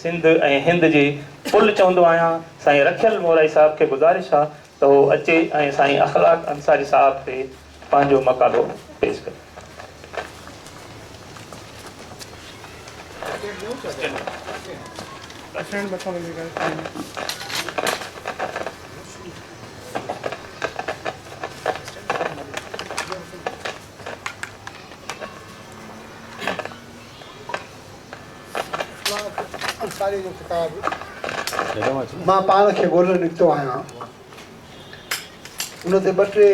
سنڌ ۽ هند جي پل چوندو آهيان سائين رکيل مورائي صاحب کي گذارش آ ته هو اچي ۽ سائين اخلاق انصاري صاحب تي پنهنجو مقالو پيش ڪري. انصاريء جو خطاب، مان پاڻ کي ڳولڻ نڪتو آهيان. ان تي ٻه ٽي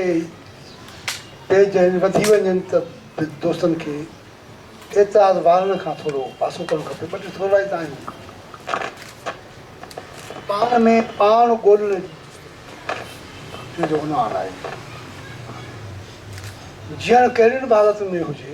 پيج آهن، وڌي وڃن ته به دوستن کي اعتراض وارن کان ٿورو پاسو ڪرڻ کپي. ٻه ٽي ٿورائتا آهن. پاڻ ۾ پاڻ ڳولڻ تنهن جو عنوان آهي. جيئڻ ڪهڙين به حالتن ۾ هجي،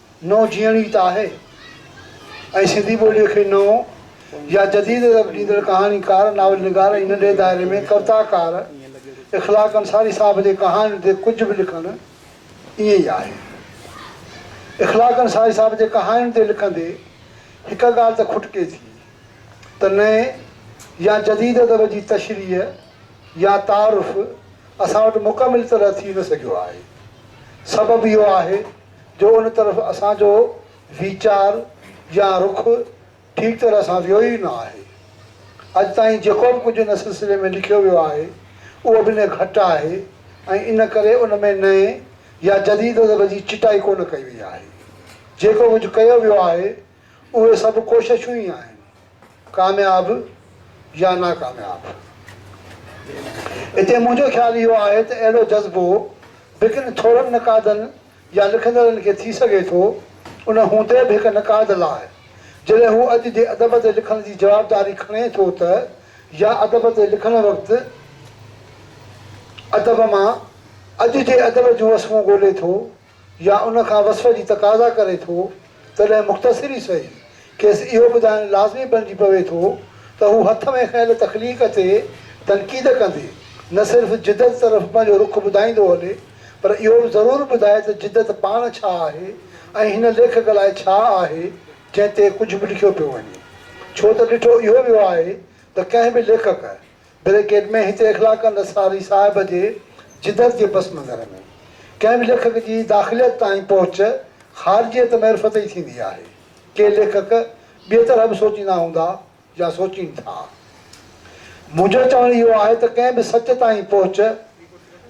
نئون جيئڻ ئي ته آهي ۽ سنڌي ٻوليء کي نئون يا جديد رپ ڏيندڙ ڪهاڻيڪار، ناول نگار ۽ ننڍي دائري ۾ ڪوتاڪار اخلاق انصاري صاحب جي ڪهاڻين تي ڪجهه به لکڻ ائين ئي آهي. اخلاق انصاري صاحب جي ڪهاڻين تي لکندي هڪ ڳالهه ته کٽڪي ٿي ته نئين يا جديد ادب جي تشريح يا تعارف اسان وٽ مڪمل طرح ٿي نه سگهيو آهي. سبب اهو آهي جو ان طرف اسان جو ويچار يا رخ ٺيڪ طرح سان ويو ئي نه آهي. اڄ تائين جيڪو به ڪجهه ان سلسلي ۾ لکيو ويو آهي، اهو به نهه گهٽ آهي ۽ ان ڪري ان ۾ نئين يا جديد ادب جي چٽائي ڪونه ڪئي وئي آهي. جيڪو ڪجهه ڪيو ويو آهي، اهي سڀ ڪوششون ئي آهن، ڪامياب يا ناڪامياب. اتي منهنجو خيال اهو آهي ته اهڙو جذبو به ڪن ٿورن نقادن يا لکندڙن کي ٿي سگهي ٿو، ان هوندي به هڪ نقاد لاء جڏهن هو اڄ جي ادب تي لکڻ جي جوابداري کڻي ٿو ته يا ادب تي لکڻ وقت ادب مان اڄ جي ادب جون وسمون ڳولي ٿو، يا ان کان وصف جي تقاضا ڪري ٿو، تڏهن مختصر ئي سهي، کيس اهو ٻڌائڻ لازمي بڻجي پوي ٿو ته هو هٿ ۾ کنيل تخليق تي تنقيد ڪندي، نه صرف جدت طرف پنهنجو رخ ٻڌائيندو هلي، پر اهو به ضرور ٻڌائي ته جدت پاڻ ڇا آهي ۽ هن ليکڪ لاء ڇا آهي، جنهن تي ڪجهه به لکيو پيو وڃي. ڇو ته ڏٺو اهو ويو آهي ته ڪنهن به ليکڪ، بريڪيٽ ۾ هتي اخلاقند اسراري صاحب جي جدت جي پس منظر ۾ ڪنهن به ليکڪ جي داخليت تائين پهچ خارجيت معرفت ئي ٿيندي آهي. ڪي ليکڪ ٻيء طرح به سوچيندا هوندا يا سوچين ٿا. منهنجو چوڻ اهو آهي ته ڪنهن به سچ تائين پهچ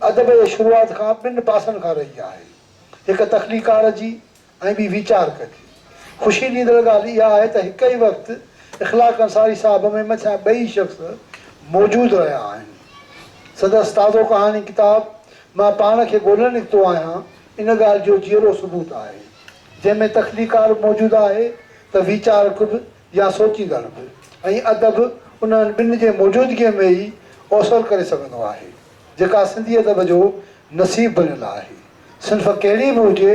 ادب جي شروعات کان ٻن پاسن کان رهي آهي. هڪ تخليقڪار جي ائين به ويچار ڪجي. خوشي ڏيندڙ ڳالهه اها آهي ته هڪ ئي وقت اخلاق انصاري صاحب ۾ مٿيان ٻئي شخص موجود رهيا آهن. سندس تازو ڪهاڻي ڪتاب مان پاڻ کي ڳولهي نڪتو آهيان ان ڳالهه جو جيئرو ثبوت آهي. جنهن ۾ تخليقڪار موجود آهي ته ويچارڪ به يا سوچيندڙ به ۽ ادب انهن ٻن جي موجودگيء ۾ ئي اوسر ڪري سگهندو آهي. جيڪا سنڌي ادب جو نصيب بنيل آهي. صنف ڪهڙي به هجي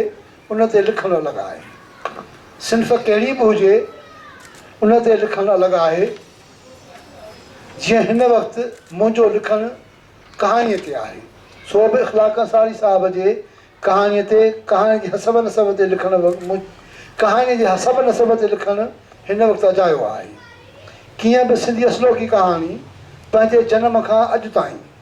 ان تي لکڻ الڳ آهي. صنف ڪهڙي به هجي ان تي لکڻ الڳ آهي. جيئن هن وقت منهنجو لکڻ ڪهاڻيء تي آهي، سو به اخلاق انصاري صاحب جي ڪهاڻيء تي، ڪهاڻي جي حسب نسب تي لکڻ ڪهاڻيء جي حسب نسب تي لکڻ هن وقت اجايو آهي. ڪيئن به سنڌي اصلوڪي ڪهاڻي پنهنجي جنم کان اڄ تائين.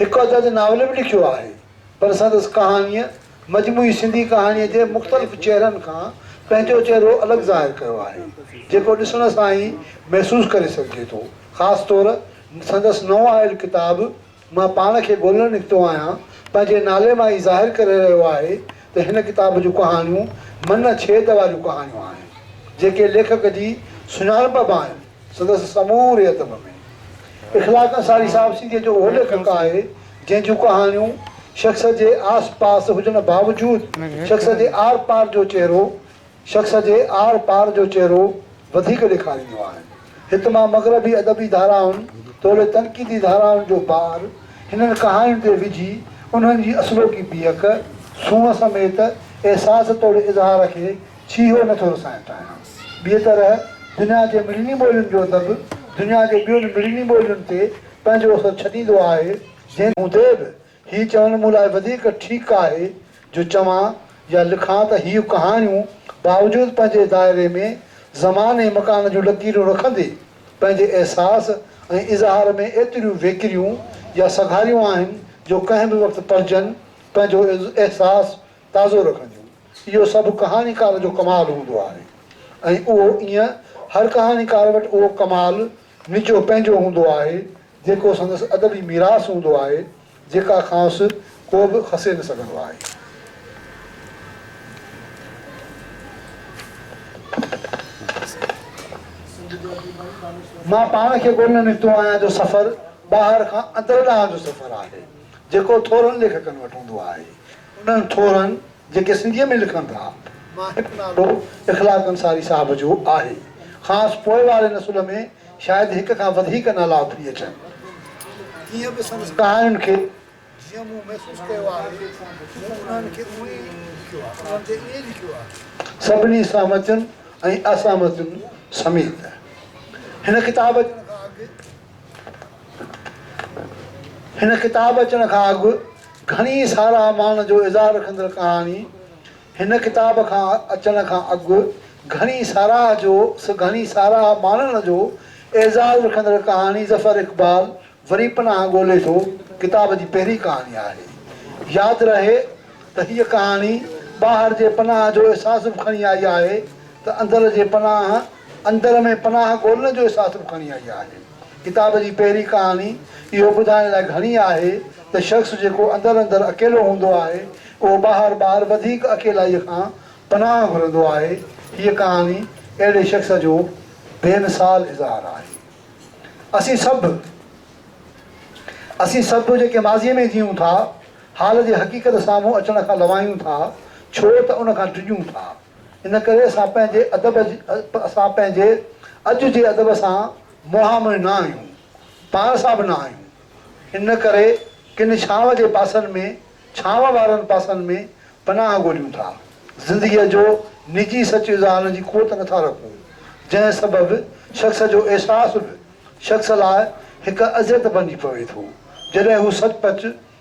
هڪ ادد ناول به لکيو آهي، پر سندس ڪهاڻيء مجموعي سنڌي ڪهاڻيء جي مختلف چهرن کان پنهنجو چهرو الڳ ظاهر ڪيو آهي، جيڪو ڏسڻ سان ئي محسوس ڪري سگهجي ٿو. خاص طور سندس نئون آيل ڪتاب مان پاڻ کي ڳولڻ نڪتو آهيان پنهنجي نالي مان ئي ظاهر ڪري رهيو آهي ته هن ڪتاب جون ڪهاڻيون من ڇيد واريون ڪهاڻيون آهن، جيڪي ليکڪ جي سڃاڻپ به آهن. سندس سموري ادب ۾ اخلاق انصاري صاحب سنڌيء جو اهو ليکڪ آهي، جنهن جون ڪهاڻيون شخص جي آس پاس هجڻ باوجود شخص جي آر پار جو چهرو شخص جي آر پار جو چهرو وڌيڪ ڏيکارينديون آهن. هت مان مغربي ادبي ڌارائن توڙي تنقيدي ڌارائن جو بار هنن ڪهاڻين تي وجهي انهن جي اصلوڪي بيهڪ، سونهن سميت احساس توڙي اظهار کي ڇيهو نه ٿو رسائڻ چاهيانس. ٻيء طرح دنيا جي مڙني ٻولين جو ادب دنيا جي ٻين مڙني ٻولين تي پنهنجو اثر ڇڏيندو آهي، جنهن هوندي به هي چوڻ مون لاء وڌيڪ ٺيڪ آهي جو چوان يا لکان ته هيون ڪهاڻيون باوجود پنهنجي دائري ۾ زمان ۽ مڪان جون لڪيرون رکندي پنهنجي احساس ۽ اظهار ۾ ايتريون ويڪريون يا سگهاريون آهن جو ڪنهن به وقت پڙهجن پنهنجو احساس تازو رکڻ جون، اهو سڀ ڪهاڻيڪار جو ڪمال هوندو آهي ۽ اهو ايئن هر ڪهاڻيڪار وٽ اهو ڪمال نجو پنهنجو هوندو آهي جيڪو سندس ادبي ميراث هوندو آهي جيڪا کانئس ڪو به کسي نه سگهندو آهي. مان پاڻ کي ڳولڻ نڪتو آهيان جو سفر ٻاهر کان اندر ڏانهن جو سفر آهي جيڪو ٿورن ليکڪن وٽ هوندو آهي. انهن ٿورن جيڪي سنڌيء ۾ لکن ٿا، مان هڪ نالو اخلاق انصاري صاحب جو آهي. کانئس پوء واري نسل ۾ شايد هڪ کان وڌيڪ نالا اٿري اچن. ڪيئن به سندس ڪهاڻين کي جيئن مون محسوس ڪيو آهي، مون انهن کي اونئن ئي لکيو آهي، انهن تي ائين لکيو آهي. سڀني سهمتين ۽ اسهمتين سميت. هن ڪتاب اچڻ کان اڳ هن ڪتاب اچڻ کان اڳ گهڻي ساراهه مان جو اظهار رکندڙ ڪهاڻي هن ڪتاب کان اچڻ کان اڳ گهڻي ساراهه جو گهڻي ساراهه ماڻڻ جو اعزاز رکندڙ ڪهاڻي ظفر اقبال وري پناهه ڳولي ٿو ڪتاب جي پهرين ڪهاڻي آهي ياد رهي ته هيء ڪهاڻي ٻاهر جي پناهه جو احساس به کڻي آئي آهي ته اندر جي پناهه اندر ۾ پناهه ڳولڻ جو احساس به کڻي آئي آهي. ڪتاب جي پهرين ڪهاڻي اهو ٻڌائڻ لاء گهڻي آهي ته شخص جيڪو اندر اندر اڪيلو هوندو آهي، اهو ٻاهر ٻاهر وڌيڪ اڪيلائيء کان پناهه گهرندو آهي. هيء ڪهاڻي اهڙي شخص جو بي مثال اظهار آهي. اسين سڀ، اسين سڀ جيڪي ماضيء ۾ جيئون ٿا، حال جي حقيقت سامهون اچڻ کان لوائيون ٿا، ڇو ته ان کان ڊڄون ٿا. ان ڪري اسان پنهنجي ادب اسان پنهنجي اڄ جي ادب سان منهن منهن نه آهيون، پاڻ سان به نه آهيون. ان ڪري ڪن ڇانو جي پاسن ۾ ڇانو وارن پاسن ۾ پناهه ڳوليون ٿا. زندگيء جو نجي سچ اظهارڻ جي قوت نه ٿا رکون، جنهن سبب شخص جو احساس به شخص لاء هڪ اذيت بنجي پوي ٿو. جڏهن هو سچ پچ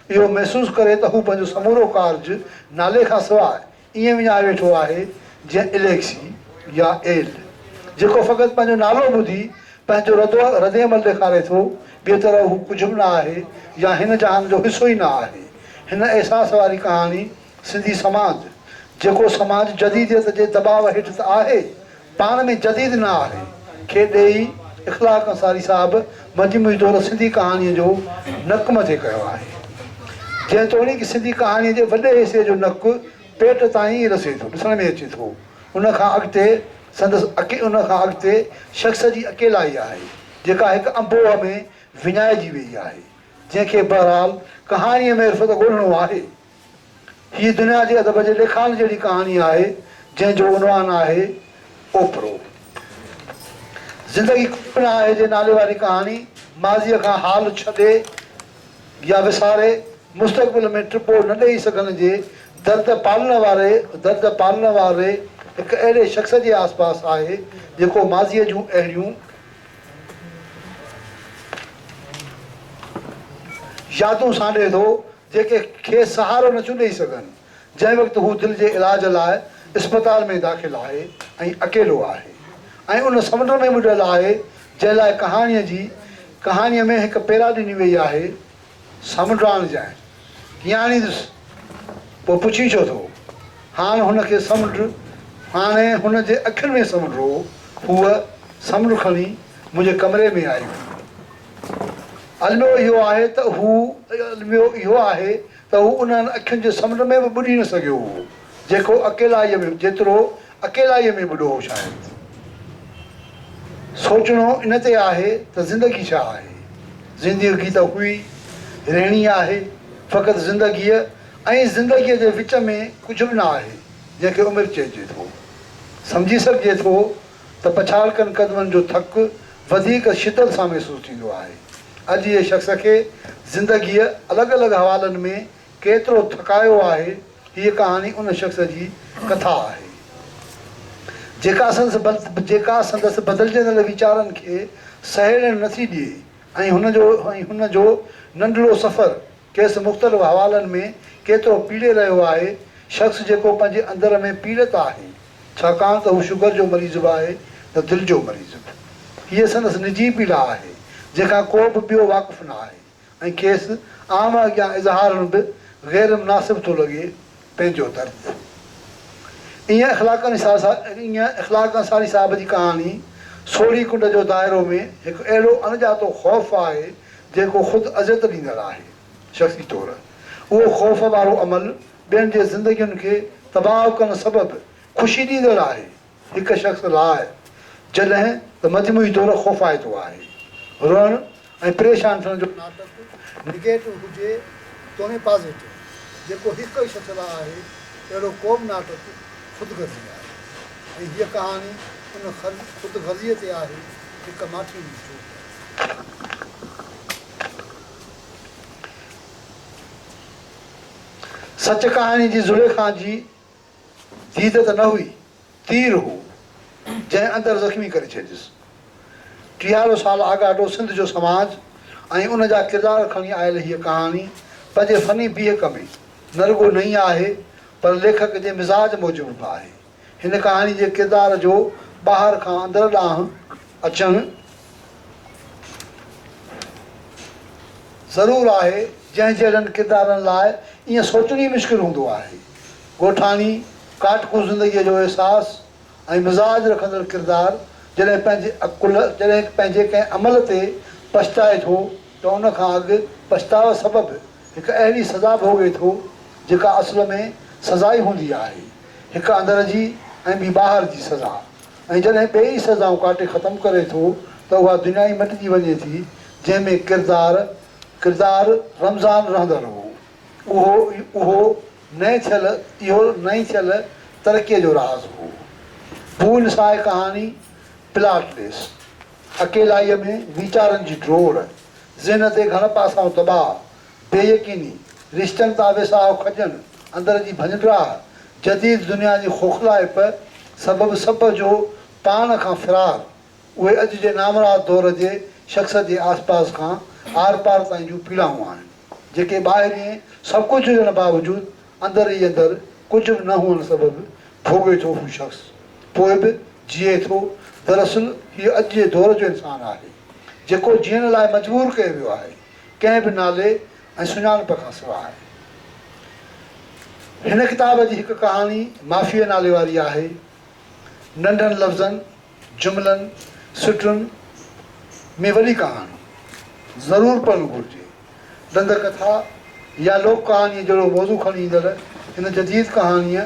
اهو محسوس ڪري ته هو پنهنجو سمورو ڪارج نالي کان سواء ائين وڃائي ويٺو آهي جيئن اليڪسي يا ايل جيڪو فقط پنهنجو نالو ٻڌي پنهنجو ردعمل ڏيکاري ٿو، ٻيء طرح هو ڪجهه به نه آهي يا هن جهان جو حصو ئي نه آهي. هن احساس واري ڪهاڻي سنڌي سماج، جيڪو سماج جديديت جي دٻاء هيٺ ته آهي پاڻ ۾ جديد نه آهي. کي ڏيئي اخلاق انصاري صاحب مجموعي طور سنڌي ڪهاڻيء جو نڪ مٿي ڪيو آهي. جيتوڻيڪ سنڌي ڪهاڻيء جي وڏي حصي جو نڪ پيٽ تائين ئي رسي ٿو، ڏسڻ ۾ اچي ٿو. ان کان اڳتي سندس ان کان اڳتي شخص جي اڪيلائي آهي، جيڪا هڪ انبوهه ۾ وڃائجي ويئي آهي، جنهن کي بهرحال ڪهاڻيء ۾ عرفت ڳولهڻو آهي. هيء دنيا جي ادب جي ليکائڻ جهڙي ڪهاڻي آهي، جنهن جو عنوان آهي اوپرو. زندگي ڪجهه به نه آهي جي نالي واري ڪهاڻي ماضيء کان حال ڇڏي يا وساري مستقبل ۾ ٽپو نه ڏيئي سگهڻ جي درد پالڻ واري درد پالڻ واري هڪ اهڙي شخص جي آس پاس آهي، جيڪو ماضيء جون اهڙيون يادون سانڍي ٿو، جيڪي کيس سهارو نٿيون ڏئي سگهن، جنهن وقت هو دل جي علاج لاء اسپتال ۾ داخل آهي ۽ اڪيلو آهي ۽ ان سمنڊ ۾ ٻڏل آهي جنهن لاء ڪهاڻيء جي ڪهاڻيء ۾ هڪ پيرا ڏني وئي آهي، سمنڊاڻ جنهن ڪيئن آڻيندس؟ پوء پڇين ڇو ٿو؟ هاڻ هن کي سمنڊ هاڻي هن جي اکين ۾ سمنڊ هو، هوء سمنڊ کڻي منهنجي ڪمري ۾ آئي هئي. الميو اهو آهي ته هو الميو اهو آهي ته هو انهن اکين جي سمنڊ ۾ به ٻڏي نه سگهيو هو، جيڪو اڪيلائيء ۾ جيترو اڪيلائيء ۾ ٻڏو هو. شايد سوچڻو ان تي آهي ته زندگي ڇا آهي؟ زنديوگي ته هئي رهڻي آهي، فقط زندگيء ۽ زندگيء جي وچ ۾ ڪجهه به نه آهي، جنهن کي عمر چئجي ٿو. سمجهي سگهجي ٿو. ته پڇاڙڪن قدمن جو ٿڪ وڌيڪ شدت سان محسوس ٿيندو آهي. اڄ جي شخص کي زندگيء الڳ الڳ حوالن ۾ ڪيترو ٿڪايو آهي، هيء ڪهاڻي ان شخص جي ڪٿا آهي، جيڪا سندس جيڪا سندس بدلجندڙ ويچارن کي سهيڙڻ نٿي ڏئي ۽ هن جو هن جو ننڍڙو سفر کيس مختلف حوالن ۾ ڪيترو پيڙي رهيو آهي، شخص جيڪو پنهنجي اندر ۾ پيڙت آهي، ڇاڪاڻ ته هو شگر جو مريض به آهي ته دل جو مريض به. هيء سندس نجي پيڙا آهي، جنهن کان ڪو به ٻيو واقف نه آهي ۽ کيس عام اڳيان اظهارڻ به غيرمناسب ٿو لڳي، پنهنجو درد. ايئن اخلاق انصاري صاحب جي ڪهاڻي سوڙهي ڪنڊ جو دائرو ۾ هڪ اهڙو اڻڄاتو خوف آهي جيڪو خود اذيت ڏيندڙ آهي. شخصي طور اهو خوف وارو عمل ٻين جي زندگين کي تباهه ڪرڻ سبب خوشي ڏيندڙ آهي. هڪ شخص لاء جڏهن ته مجموعي طور خوفائتو آهي. روئڻ ۽ پريشان ٿيڻ جو ناٽڪ نيگيٽو هجي توڻي پازيٽو، جيڪو هڪ ئي شخص لاء آهي، اهڙو ڪو به ناٽڪ خود غرضي آهي ۽ هيء ڪهاڻي ان خود غرضيء تي آهي، هڪ ماٺيء جي جوت آهي. سچ ڪهاڻي جي زليخا جي ديد ته نه هئي، تير هو، جنهن اندر زخمي ڪري ڇڏيس. ٽيهارو سال آڳاٽو سنڌ جو سماج ۽ ان جا ڪردار کڻي آيل هيء ڪهاڻي پنهنجي فني بيهڪ ۾ نه رڳو نئين آهي، پر ليکڪ جي مزاج موجب به آهي. هن ڪهاڻي جي ڪردار جو ٻاهر کان اندر ڏانهن اچڻ ضرور آهي، جنهن جهڙن ڪردارن لاء ائين سوچڻ ئي مشڪل هوندو آهي. ڳوٺاڻي ڪاٽڪو زندگيء جو احساس ۽ مزاج رکندڙ ڪردار جڏهن پنهنجي عقل جڏهن پنهنجي ڪنهن عمل تي پڇتائي ٿو ته ان کان اڳ پڇتاء سبب هڪ اهڙي سزا ڀوڳي ٿو جيڪا اصل ۾ سزا ئي هوندي آهي هڪ اندر جي ۽ ٻي ٻاهر جي سزا ۽ جڏهن ٻيئي سزائون ڪاٽي ختم ڪري ٿو ته اها دنيا ئي مٽجي وڃي ٿي جنهن ۾ ڪردار ڪردار رمضان رهندڙ هو. اهو اهو نئين ڇل اهو نئين ڇل ترقيء جو راز هو. پول ساهه ڪهاڻي پلاٽ ليس، اڪيلائيء ۾ ويچارن جي ڊوڙ، ذهن تي گهڻ پاسائون دٻاء، بي يقيني، رشتن تان ويساهه کڄڻ، اندر جي ڀڃڊراهه، جديد دنيا جي کوکلائپ سبب سڀ جو پاڻ کان فرار، اهي اڄ جي نامراد دور جي شخص جي آس پاس کان آر پار تائين جون پيڙائون آهن، جيڪي ٻاهرئين سڀ ڪجهه هجڻ باوجود اندر ئي اندر ڪجهه به نه هئڻ سبب ڀوڳي ٿو هو شخص پوء به جيئي ٿو، دراصل هيء اڄ جي دور جو انسان آهي، جيڪو جيئڻ لاء مجبور ڪيو ويو آهي، ڪنهن به نالي ۽ سڃاڻپ کان سواء. هن ڪتاب جي هڪ ڪهاڻي مافيء نالي واري آهي، ننڍن لفظن جملن، سٽن ۾ وڏي ڪهاڻي ضرور پڙهڻ گهرجي. ڏند ڪٿا يا لوڪ ڪهاڻيء جهڙو موضوع کڻي ايندڙ هن جديد ڪهاڻيء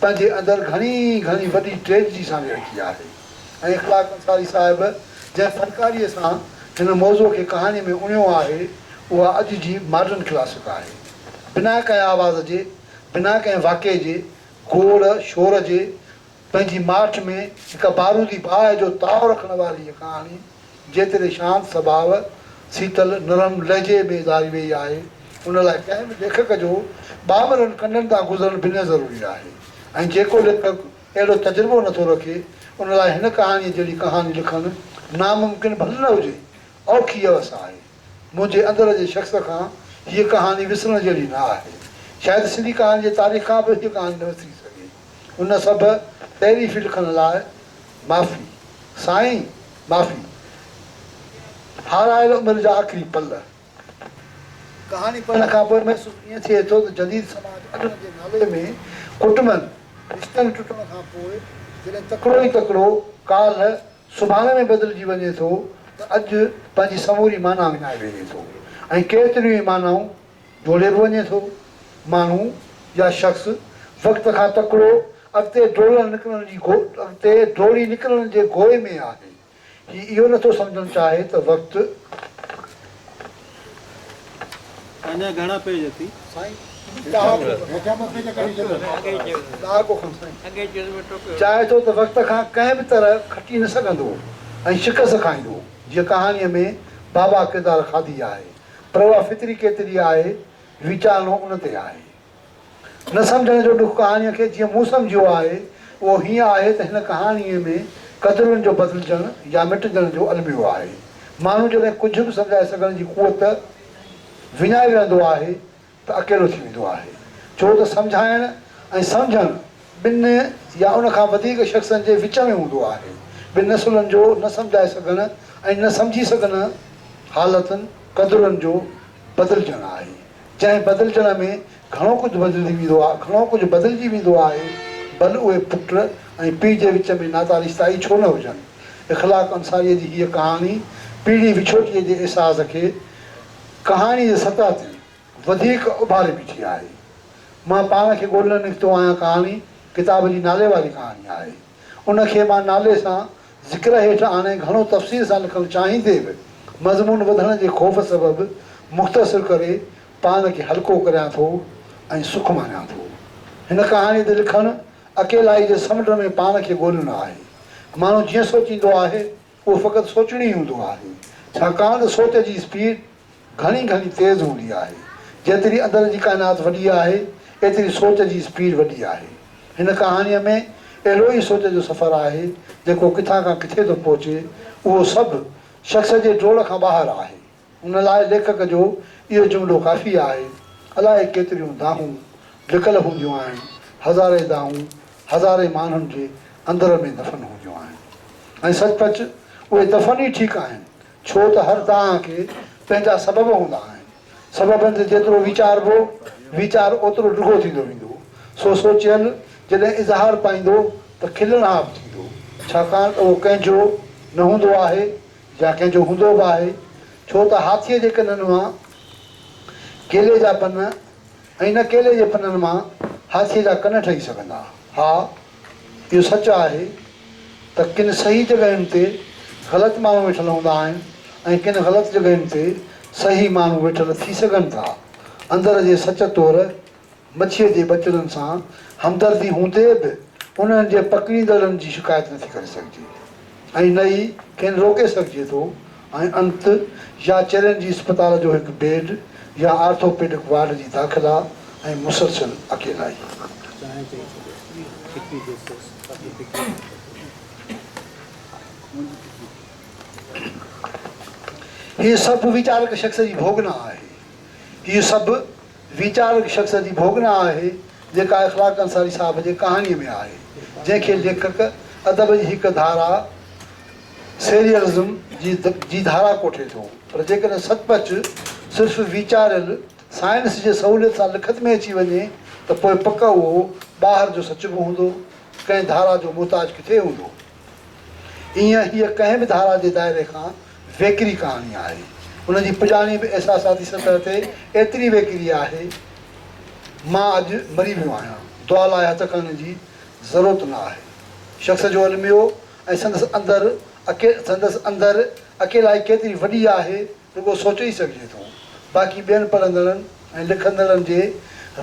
پنهنجي اندر گهڻي گهڻي وڏي ٽريجڊي سانڍي رکي آهي ۽ اخلاق انصاري صاحب جنهن فنڪاريء سان هن موضوع کي ڪهاڻيء ۾ اڻيو آهي، اها اڄ جي ماڊرن ڪلاسڪ آهي. بنا ڪنهن آواز جي، بنا ڪنهن واقعي جي گوڙ شور جي، پنهنجي ماٺ ۾ هڪ بارودي باهه جو تاء رکڻ واري هيء ڪهاڻي جيتري شانت سڀاء، سيتل، نرم لهجي ۾ اظهاري ويئي آهي، ان لاء ڪنهن به ليکڪ جو ٻانڀرن ڪنڊن تان گذرڻ بنهه ضروري آهي ۽ جيڪو ليکڪ اهڙو تجربو نٿو رکي، ان لاء هن ڪهاڻيء جهڙي ڪهاڻي لکڻ ناممڪن ڀل نه هجي، اوکي اوس آهي. منهنجي اندر جي شخص کان هيء ڪهاڻي وسرڻ جهڙي نه آهي. شايد سنڌي ڪهاڻي جي تاريخ کان به هيء ڪهاڻي نه وسري سگهي. ان سڀ تعريفي لکڻ لاء معافي. سائين معافي. هارايل عمر جا آخري پل. ڪهاڻي پڙهڻ کان پوء محسوس ائين ٿئي ٿو ته جديد سماج اڏڻ جي نالي ۾ ڪٽنبن رشتن ٽٽڻ کان پوء جڏهن تڪڙو ئي تڪڙو ڪالهه سڀاڻي ۾ بدلجي وڃي ٿو ته اڄ پنهنجي سموري معنيٰ وڃائي ويهي ٿو ۽ ڪيتريون ئي معنائون ڊوڙي به وڃي ٿو. ماڻهو يا شخص وقت کان تڪڙو اڳتي ڊوڙڻ نڪرڻ جي اڳتي ڊوڙي نڪرڻ جي گوء ۾ آهي. هي اهو نٿو سمجهڻ چاهي ته وقت کان ڪنهن به طرح کٽي نه سگهندو ۽ شڪست کائيندو. جيئن ڪهاڻيء ۾ بابا ڪردار کاڌي آهي. پر اها فطري ڪيتري آهي، ويچارڻو ان تي آهي. نه سمجهڻ جو ڏک ڪهاڻيء کي جيئن مون سمجهيو آهي، اهو هيئن آهي ته هن ڪهاڻيء ۾ قدرن جو بدلجڻ يا مٽجڻ جو الميو آهي. ماڻهو جڏهن ڪجهه به سمجهائي سگهڻ جي قوت وڃائي ويهندو آهي ته اڪيلو ٿي ويندو آهي، ڇو ته سمجهائڻ ۽ سمجهڻ ٻن يا ان کان وڌيڪ شخصن جي وچ ۾ هوندو آهي. ٻن نسلن جو نه سمجهائي سگهڻ ۽ نه سمجهي سگهڻ حالتن قدرن جو بدلجڻ آهي، جنهن بدلجڻ ۾ گهڻو ڪجهه بدلجي ويندو آهي گهڻو ڪجهه بدلجي ويندو آهي، ڀل اهي پٽ ۽ پيء جي وچ ۾ ناتا رشتا ئي ڇو نه هجن. اخلاق انصاريء جي هيء ڪهاڻي پيڙهي وڇوٽيء جي احساس کي. ڪهاڻي جي سطح تي وڌيڪ اڀاري بيٺي آهي. مان پاڻ کي ڳولڻ نڪتو آهيان ڪهاڻي ڪتاب جي نالي واري ڪهاڻي آهي. ان کي مان نالي سان ذڪر هيٺ آڻي گهڻو تفصيل سان لکڻ چاهيندي به مضمون وڌڻ جي خوف سبب مختصر ڪري پاڻ کي هلڪو ڪريان ٿو ۽ سک ماڻيان ٿو. هن ڪهاڻي تي لکڻ اڪيلائي جي سمنڊ ۾ پاڻ کي ڳولڻ آهي. ماڻهو جيئن سوچيندو آهي. اهو فقط سوچڻي هوندو آهي، ڇاڪاڻ ته سوچ جي اسپيڊ گهڻي گهڻي تيز هوندي آهي. جيتري اندر جي ڪائنات وڏي آهي، ايتري سوچ جي اسپيڊ وڏي آهي. هن ڪهاڻيء ۾ اهڙو ئي سوچ جو سفر آهي، جيڪو ڪٿان کان ڪٿي ٿو پهچي، اهو سڀ شخص جي ڊوڙ کان ٻاهر آهي. ان لاء ليکڪ جو اهو جملو ڪافي آهي، الائي ڪيتريون دانهون لڪل هونديون آهن، هزارين دانهون هزارين ماڻهن جي اندر ۾ دفن هونديون آهن ۽ سچ پچ اهي دفن ئي ٺيڪ آهن، ڇو ته هر دانهن کي پنهنجا سبب هوندا آهن، سببن تي جيترو ويچاربو، ويچار اوترو ڊگهو ٿيندو ويندو، سو سوچيل جڏهن اظهار پائيندو ته کلڻهاپ ٿيندو، ڇاڪاڻ ته اهو ڪنهن جو نه هوندو آهي، يا ڪنهن جو هوندو به آهي، ڇو ته هاٿيء جي ڪنن مان ڪيلي جا پن ۽ نه ڪيلي جي پنن مان هاٿيء جا ڪن ٺهي سگهندا. ها، اهو سچ آهي ته ڪن صحيح جڳهين تي غلط ماڻهو ويٺل هوندا آهن ۽ ڪن غلط جڳهين تي صحيح ماڻهو ويٺل ٿي سگهن ٿا. اندر جي سچ طور مڇيء جي ٻچڙن سان همدردي هوندي به انهن جي پڪڙيندڙن جي شڪايت نه ٿي ڪري سگهجي ۽ نه ئي کين روڪي سگهجي ٿو ۽ انت يا چرين جي اسپتال جو هڪ بيڊ يا آرٿوپيڊڪ وارڊ جي داخلا ۽ مسلسل اڪيلائي. هي سڀ ويچارڪ شخص جي ڀوڳنا آهي. هي سڀ ويچارڪ شخص جي ڀوڳنا آهي، جيڪا اخلاق انصاري صاحب جي ڪهاڻيء ۾ آهي، جنهن کي ليکڪ ادب جي هڪ ڌارا، Serialism، جي ڌارا ڪوٺي ٿو، پر جيڪڏهن سچ پچ صرف ويچاريل سائنس جي سهوليت سان لکت ۾ اچي وڃي ته پوء پڪ اهو ٻاهر جو سچ به هوندو، ڪنهن ڌارا جو محتاج ڪٿي هوندو؟ ايئن هيء ڪنهن به ڌارا جي دائري کان ويڪري ڪهاڻي آهي. ان جي پڄاڻي به احساساتي سطح تي ايتري ويڪري آهي، مان اڄ مري ويو آهيان، دعا لاء هٿ کڻڻ جي ضرورت نه آهي. شخص جو الميو ۽ سندس اندر سندس اندر اڪيلائي ڪيتري وڏي آهي، رڳو سوچي ئي سگهجي ٿو. باقي ٻين پڙهندڙن ۽ لکندڙن جي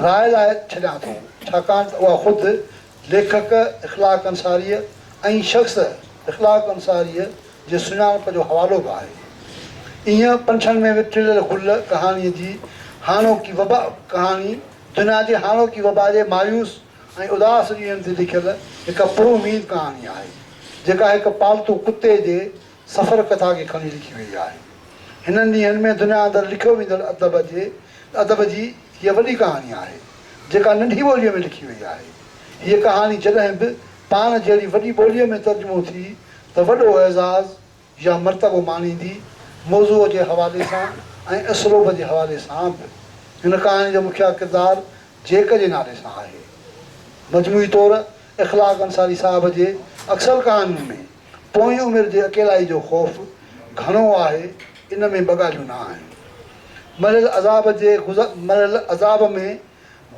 راء لاء ڇڏيان ٿو، ڇاڪاڻ ته اها خود ليکڪ اخلاق انصاريء ۽ شخص اخلاق انصاريء جي سڃاڻپ جو حوالو به آهي. ايئن پنڇن ۾ وکريل گل ڪهاڻيء جي هاڻوڪي وبا ڪهاڻي دنيا جي هاڻوڪي وبا جي مايوس ۽ اداس ڏينهن تي لکيل هڪ پراميد ڪهاڻي آهي، جيڪا هڪ پالتو ڪتي جي سفر ڪٿا کي کڻي لکي وئي آهي. هنن ڏينهن ۾ دنيا اندر لکيو ويندڙ ادب جي ادب جي هيء وڏي ڪهاڻي آهي، جيڪا ننڍي ٻوليء ۾ لکي وئي آهي. هيء ڪهاڻي جڏهن به پاڻ جهڙي وڏي ٻوليء ۾ ترجمو ٿي ته وڏو اعزاز يا مرتبو ماڻيندي، موضوع جي حوالي سان ۽ اسلوب جي حوالي سان به. هن ڪهاڻي جو مکيه ڪردار جيڪ جي نالي سان آهي. مجموعي طور اخلاق انصاري صاحب جي اڪثر ڪهاڻين ۾ پوئين عمر جي اڪيلائي جو خوف گهڻو آهي، ان ۾ ٻه ڳالهيون نه آهن. مرحل عذاب جي مرحل عذاب ۾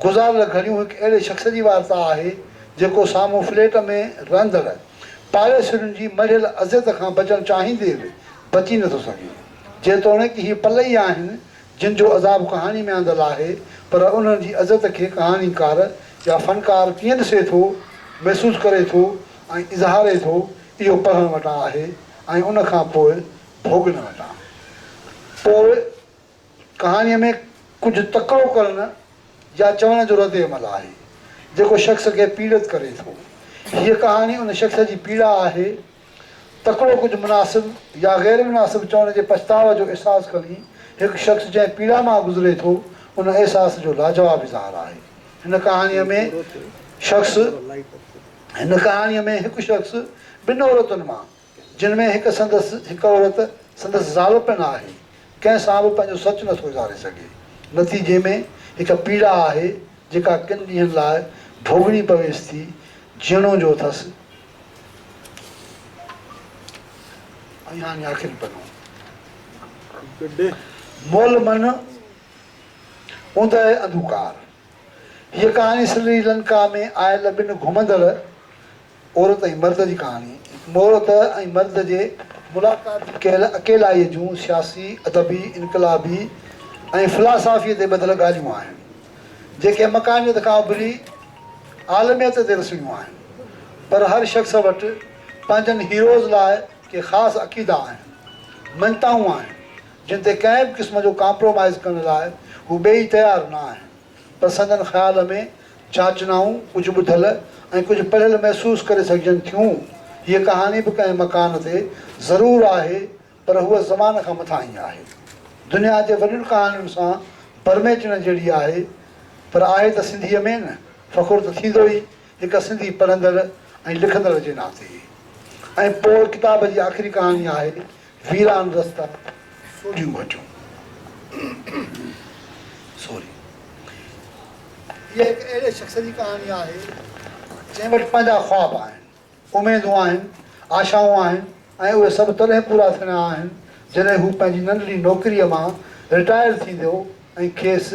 گذاريل گهڙيون هڪ اهڙي شخص جي وارتا آهي، جيڪو سامهون فليٽ ۾ رهندڙ پاڙيسرين جي مڙهيل اذيت کان بچڻ چاهيندي به بچي نٿو سگهي. جيتوڻيڪ هي پل ئي آهن، جن جو عذاب ڪهاڻي ۾ آندل آهي، پر انهن جي اذيت کي ڪهاڻيڪار يا فنڪار ڪيئن ڏسي ٿو، محسوس ڪري ٿو، ۽ اظهاري ٿو اهو پڙهڻ وٽان آهي ۽ ان کان پوء ڀوڳڻ وٽان. پوء ڪهاڻيء ۾ ڪجهه تڪڙو ڪرڻ يا چوڻ جو رد عمل آهي، جيڪو شخص کي پيڙت ڪري ٿو. هيء ڪهاڻي ان شخص جي پيڙا آهي. تڪڙو ڪجهه مناسب يا غير مناسب چوڻ جي پڇتاء جو احساس کڻي هڪ شخص جنهن پيڙا مان گذري ٿو، ان احساس جو لاجواب اظهار آهي. هن ڪهاڻيء ۾ شخص. هن ڪهاڻيء ۾ هڪ شخص ٻن عورتن مان، جن ۾ هڪ سندس هڪ عورت سندس زال پڻ آهي، ڪنهن سان به پنهنجو سچ نٿو اظهاري سگهي. نتيجي ۾ هڪ پيڙا آهي، جيڪا ڪن ڏينهن لاء ڀوڳڻي پويس ٿي، جيئڻو جو اٿس. ۽ هاڻي آخري پنو. مول من اوندهه انڌوڪار. هيء ڪهاڻي سري لنڪا ۾ آيل ٻن گهمندڙ عورت ۽ مرد جي ڪهاڻي، هڪ عورت ۽ مرد جي ملاقات جي ڪيل اڪيلائيء جون سياسي، ادبي، انقلابي ۽ فلاسافيء تي ٻڌل ڳالهيون آهن، جيڪي مقاميت کان اڀري عالميت تي رسڻيون آهن. پر هر شخص وٽ پنهنجن هيروز لاء ڪي خاص عقيدا آهن، مڃتائون آهن، جن تي ڪنهن به قسم جو ڪامپرومائيز ڪرڻ لاء هو ٻئي ئي تيار نه آهن، پر سندن خيال ۾ جاچنائون ڪجهه ٻڌل ۽ ڪجهه پڙهيل محسوس ڪري سگهجن ٿيون. هيء ڪهاڻي به ڪنهن مڪان تي ضرور آهي، پر هوء زمان کان مٿاهين ئي آهي. دنيا جي وڏين ڪهاڻين سان برميچڻ جهڙي آهي، پر آهي ته سنڌيء ۾ نه. فخر ته ٿيندو ئي هڪ سنڌي پڙهندڙ ۽ لکندڙ جي ناتي. ۽ پوء ڪتاب جي آخري ڪهاڻي آهي ويران رستا، سوڍيون ڀٽيون. سوري. هيء هڪ اهڙي شخص جي ڪهاڻي آهي، جنهن وٽ پنهنجا خواب آهن، اميدون آهن، آشائون آهن ۽ اهي سڀ تڏهن پورا ٿيڻا آهن، جڏهن هو پنهنجي ننڍڙي نوڪريء مان رٽائر ٿيندو ۽ کيس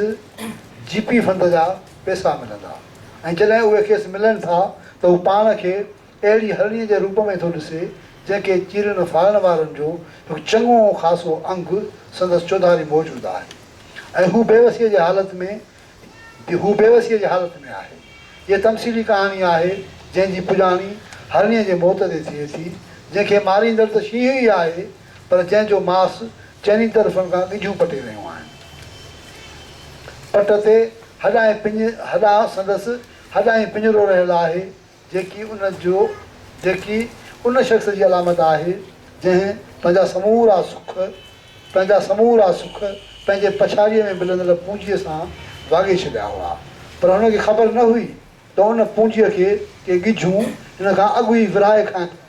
جي پي فند جا پئسا ملندا ۽ جڏهن اهي کيس ملن ٿا ته هو پاڻ کي اهڙي هرڻيء جي روپ ۾ ٿو ڏسي، جنهن کي چيرڻ ڦاڙڻ وارن جو هڪ چڱو ۽ خاصو انگ سندس چوڌاري موجود آهي ۽ هو بيوسيء جي حالت ۾ هو بيوسيء جي حالت ۾ آهي. هيء تمثيلي ڪهاڻي آهي، جنهن جي پڄاڻي هرڻيء جي موت تي ٿئي ٿي، جنهن کي ماريندڙ ته شينهن ئي آهي، پر جنهن جو ماس چئني طرفن کان ڳجهون پٽي رهيون آهن. پٽ تي هڏا ۽ پڃ هڏا سندس هڏا ۽ پڃرو رهيل آهي، جيڪي ان جو جيڪي ان شخص جي علامت آهي، جنهن پنهنجا سمورا سک، پنهنجا سمورا سک پنهنجي پڇاڙيء ۾ ملندڙ پونجيء سان واڳي ڇڏيا هئا، پر هن کي خبر نه هئي ته ان پونجيء کي ڪي ڳجهون هن کان اڳ ئي ورهائي کائين ٿيون.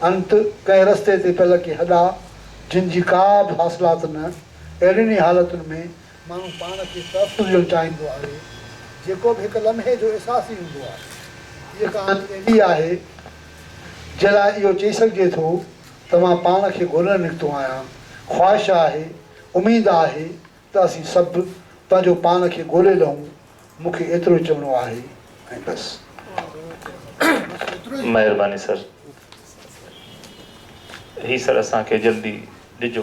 انت ڪنهن رستي تي پيل ڪي هڏا، جن جي ڪا به حاصلات نه، اهڙين ئي حالتن ۾ ماڻهو پاڻ کي تحفظ ڏيڻ چاهيندو آهي، جيڪو به هڪ لمحي جو احساس ئي هوندو آهي. هيء ڪهاڻي اهڙي آهي، جنهن لاء اهو چئي سگهجي ٿو ته مان پاڻ کي ڳولڻ نڪتو آهيان. خواهش آهي، اميد آهي ته اسين سڀ پنهنجو پاڻ کي ڳولي لهون. مون کي ايترو ئي چوڻو آهي ۽ بس. مهرباني سر هي سر اسان کي جلدي ڏجو.